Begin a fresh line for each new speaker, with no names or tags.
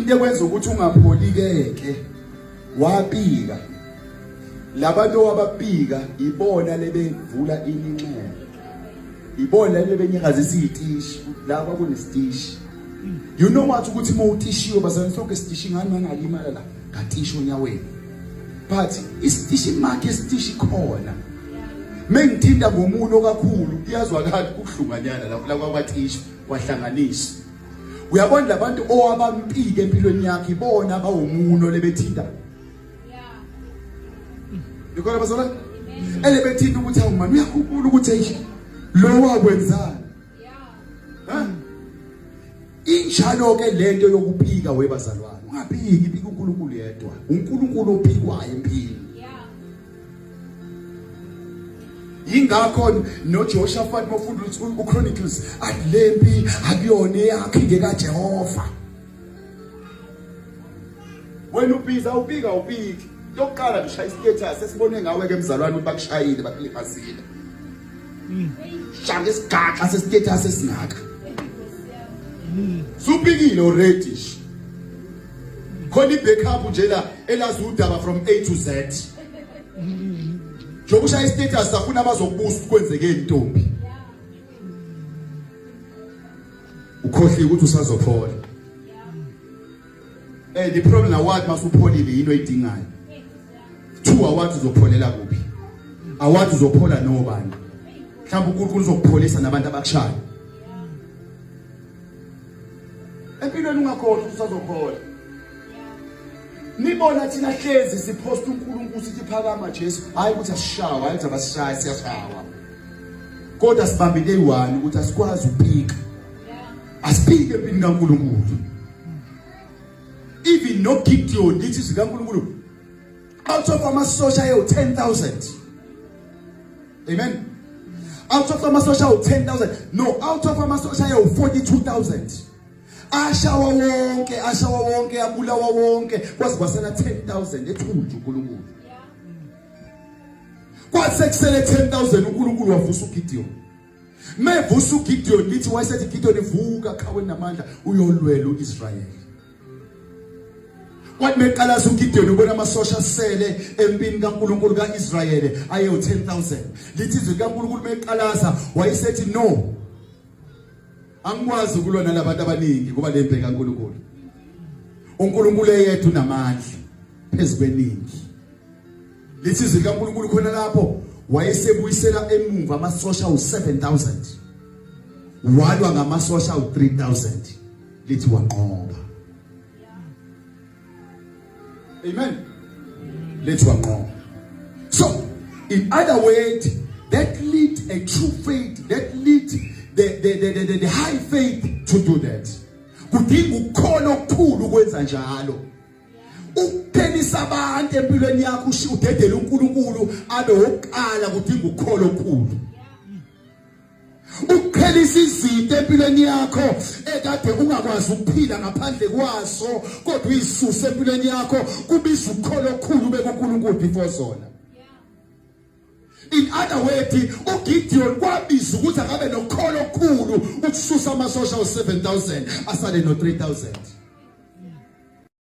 into ekwenza ukuthi ungapholikeke wabika labantu owababika ibona lebevula iminxeba ibona lebenyakaza isitishi la kwakunesitishi you know what ukuthi uma utishiwe bazalwane sonke isitishi ngani mangalimala la ngatishi onyaweni but isitishi makhe isitishi khona mengithinta ngomuno kakhulu iyazwakala ukuhlunganyana lapho la kwabathishi kwahlanganiswa uyabona labantu owabampike empilweni yakhe ibona abawumuno lebethinta Ngikona bazona ele bethinta ukuthi awumani uyakhumbula ukuthi eish lo wakwenzani ha injalo ke lento yokuphika webazalwane ungaphiki phika uNkulunkulu yedwa uNkulunkulu ophikwayo empilweni yingakho noJehoshafati mofunda uChronicles athi lempi akuyona eyakhe ngekaJehova wena ubiza ubika ubiki yokuqala ngishaya istatus esibone ngawe ke mzalwane ukuthi bakushayile bakulimazile shaka isigaxa sestatus esingaka supikile already khona ibackup nje la elazi udaba from A to Z njengoba ushaya istatus afuna abazokubusa kwenzeke intombi ukhohliwe ukuthi usazophola eh the problem award masupholile yini oyidingayo two award uzopholela kuphi award uzophola nobani mhlawumbe uNkulunkulu uzokupholisa nabantu abakushayo empilweni ungakhohlwa usazokhola nibona thina hlezi siphosta uNkulunkulu sithi phakama Jesu hayi ukuthi asishawa hayi ukuthi abasishaye siyashawa kodwa sibambe day 1 ukuthi asikwazi ukuphika asiphike empini kaNkulunkulu even no Gideon lithi zikaNkulunkulu out of amasosha ayewu 10000 amen out of amasosha awu 10000 no out of amasosha ayewu 42000 ashawa wonke ashawa wonke abulawa wonke kwaze kwasela 10000 ethunjwa uNkulunkulu kwathi sekusele 10000 uNkulunkulu wavusa uGideon mevusa uGideon lithi wayesethi Gideon vuka khawe namandla uyolwela uIsrael kwathi meqalaza uGideon ubona amasosha asele empini kaNkuluNkulu kaIsrael aye u10000 lithi izwi kaNkuluNkulu meqalaza wayesethi no angikwazi ukulwa nalabantu abaningi ngoba lembe kaNkuluNkulu uNkulunkulu eyedwa unamandla phezukweningi Lithi izwi likaNkulunkulu khona lapho wayesebuyisela emuva amasosha u7000 walwa ngamasosha u3000 lithi wanqoba amen lithi wanqoba so in other words that lead a true faith that lead the the the, the, the high faith to do that kudinga ukukhona okukhulu ukwenza njalo ukuphelisa abantu empilweni yakho usho udedele uNkulunkulu abe oqala kudinga ukukholo okukhulu ukuphelisa izinto empilweni yakho ekade ungakwazi ukuphila ngaphandle kwaso kodwa uyisuse empilweni yakho kubiza ukukholo okukhulu bekuNkulunkulu before zona in other words uGideon kwabiza ukuthi akabe nokholo okukhulu ukususa amasosha u7000 asale no 3000